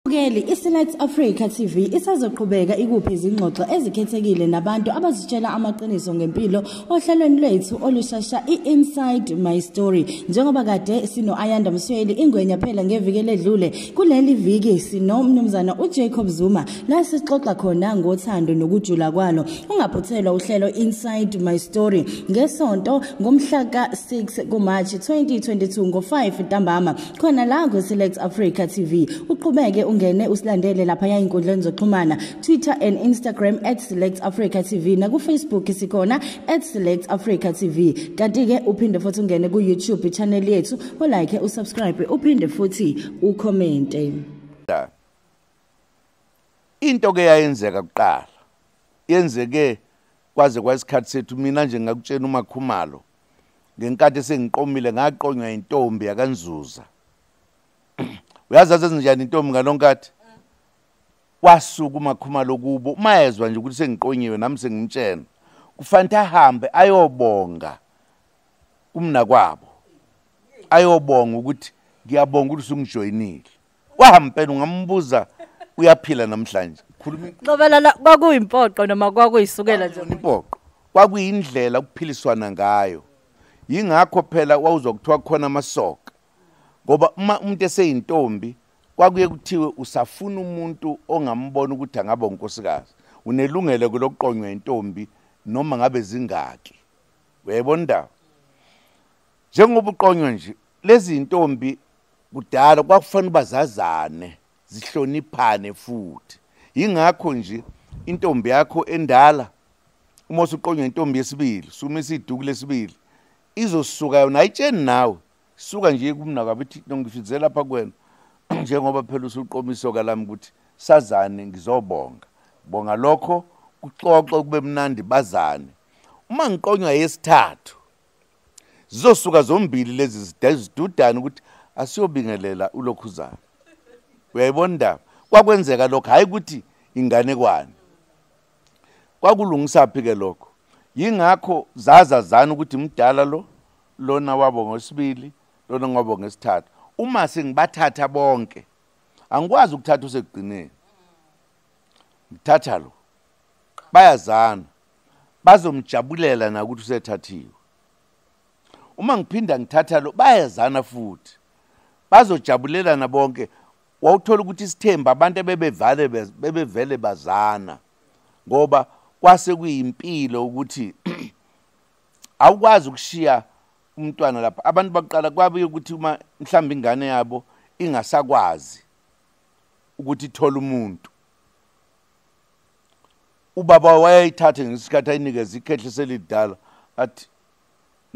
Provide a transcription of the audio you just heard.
Keli iSelect Africa TV isazoqhubeka ikuphe izingxoxo ezikhethekile nabantu abazitshela amaqiniso ngempilo ohlelweni lwethu olushasha i-Inside My Story njengoba kade sino Ayanda Msweli ingwenya phela ngeviki ledlule kuleli viki sinomnumzana uJacob Zuma la sixoxa khona ngothando nokujula kwalo ungaphuthelwa uhlelo Inside My Story ngesonto ngomhla ka-6 kuMarch 2022 ngo-5 ntambama khona la kwiSelect Africa TV uqhubeke ungene usilandele lapha yayinkundleni zoxhumana Twitter and Instagram @selectafricatv nakuFacebook sikhona @selectafricatv kanti ke uphinde futhi ungene kuYouTube channel yethu ulike usubscribe uphinde futhi ucommente into ke yayenzeka kuqala yenzeke kwaze kwayisikhathi sethu mina nje ngakutshena umakhumalo ngenkathi sengiqomile ngaqonywa intombi yakanzuza uyazi asezinjani intombi ngalonkathi wasuka umakhumalo kubo uma ezwa nje ukuthi sengiqonyiwe nami sengimtshena kufanele ahambe ayobonga kumnakwabo ayobonga ukuthi ngiyabonga ukuthi sungijoyinile wahampela ungambuza uyaphila namhlanje khuluma Nqobelala kwakuyimpoqo noma kwakuyisukela nje impoqo kwakuyindlela ukuphiliswana ngayo yingakho phela wawuzwa kuthiwa khona amasoka ngoba uma umuntu eseyintombi kwakuye kuthiwe usafuna umuntu ongambona ukuthi angaba unkosikazi unelungelo kulokuqonywa intombi noma ngabe zingaki uyayibona indaba njengoba uqonywa nje lezi ntombi kudala kwakufanele uba zazane zihloniphane futhi yingakho nje intombi yakho endala uma usuqonywa intombi yesibili sumisa iduku lesibili izosuka yona ayitsheni nawe suka nje kumna kwabe ithi nongifithize lapha kuwena njengoba phela usuqomisoka lami ukuthi sazane ngizobonga bonga lokho kuxoxo kube mnandi bazane uma ngiqonywa yesithathu zizosuka zombili lezi zidudane ukuthi asiyobingelela ulokhuzana uyayibona indaba kwakwenzeka lokho hhayi ukuthi inganekwane kwakulungisaphi-ke lokho yingakho zazazana ukuthi mdala lo lona wabo ngosibili lona ngobo ngesithathu uma sengibathatha bonke angikwazi ukuthatha usekugcineni ngithatha lo bayazana bazomjabulela nakuthi usethathiwe uma ngiphinda ngithatha lo bayezana futhi bazojabulelana bonke wawuthola ukuthi isithembu abantu ebebevale bebevele bazana ngoba kwase kuyimpilo ukuthi awukwazi ukushiya umntwana lapha abantu baqala kwabuye ukuthi uma mhlawumbe ingane yabo ingasakwazi ukuthi ithola umuntu ubaba wayeyithathe ngesikhathi ayinikeza ikhehli selidala athi